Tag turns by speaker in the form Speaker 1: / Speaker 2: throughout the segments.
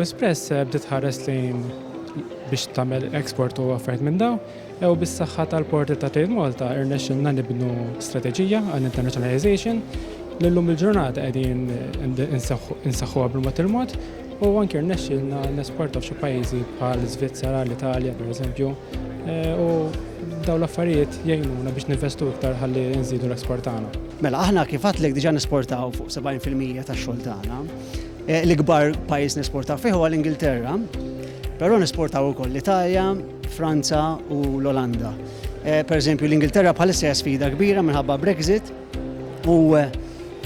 Speaker 1: Espress eh, bdiet ħares lejn biex tagħmel export u affarijiet minn daw, jew bis-saħħa tal-porti ta' Trade Malta irnexxilna nibnu strateġija għal internationalization li llum il-ġurnata qegħdin insaħħuha bil-mod il-mod U anke rnexxielna nesportaw f'xi pajjiżi bħal Svizzera, l-Italja pereżempju, eh, u dawn l-affarijiet jgħinuna biex ninvestu iktar ħalli nżidu l-eksport tagħna. Mela aħna kif għatlek
Speaker 2: diġà nesportaw fuq 70% tax-xogħol tagħna. Eh, l-ikbar pajjiż nesportaw fih huwa l-Ingilterra, però nesportaw ukoll l-Italja, Franza u l-Olanda. Eh, per eżempju, l-Ingilterra bħalissa hija sfida kbira minħabba Brexit, U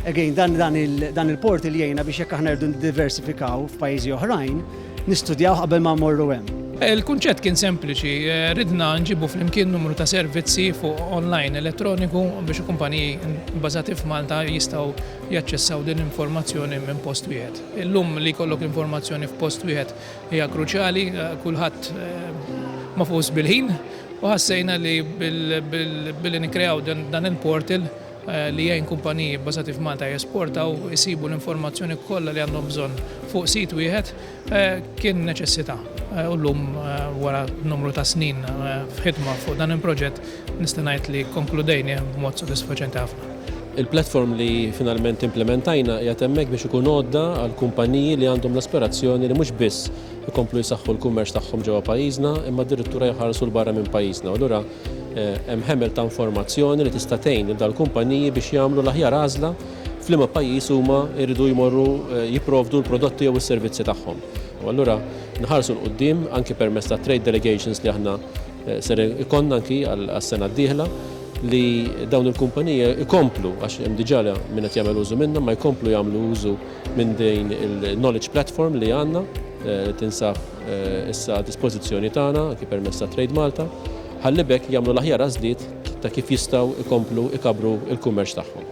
Speaker 2: again, dan, dan, il, dan il-portal jgħina biex jekk aħna rridu diversifikaw f'pajjiżi oħrajn, nistudjaw qabel ma morru hemm. Il-kunċett kien
Speaker 3: sempliċi, eh, ridna nġibu flimkien numru ta' servizzi fuq online elettroniku biex kumpaniji bbażati f'Malta jistgħu jaċċessaw din l-informazzjoni minn post wieħed. Illum li jkollok l-informazzjoni f'post wieħed Hija kruċjali, kulħadd magħfuż bil-ħin u ħassejna li billi nikkreaw dan il-portal li jgħin kumpaniji bbażati f'Malta jesportaw isibu l-informazzjoni kollha li għandhom bżonn fuq sit wieħed kien neċessità. U llum wara numru ta' snin f'ħidma fuq dan il-proġett nista' ngħid li kkonkludejnih b'mod sodisfaċenti ħafna. Il-platform li
Speaker 4: finalment implimentajna qiegħed hemmhekk biex ikun għodda għall-kumpaniji li għandhom l-aspirazzjoni li mhux biss ikomplu jsaħħu l-kummerċ tagħhom ġewwa pajjiżna imma addirittura jħarsu 'l barra minn pajjiżna u allura hemm ħemel ta' informazzjoni li tista' tgħin lil dal-kumpaniji biex jagħmlu l-aħjar għażla f'liema pajjiż huma jridu jmorru jipprovdu l-prodotti jew is-servizzi tagħhom. U allura nħarsu 'l quddiem anki permezz tat-trade delegations li aħna Ser ikollna anki għas-sena d-dieħla li dawn il-kumpaniji jkomplu, għax hemm diġà min qed jagħmel użu minnha, ma jkomplu jagħmlu użu minn din il-knowledge platform li għandna, li tinsab issa għad-dispożizzjoni tagħna anki permezz ta' Trade Malta, ħalli b'hekk jagħmlu l-aħjar għażliet ta' kif jistgħu jkomplu jkabbru l-kummerċ tagħhom.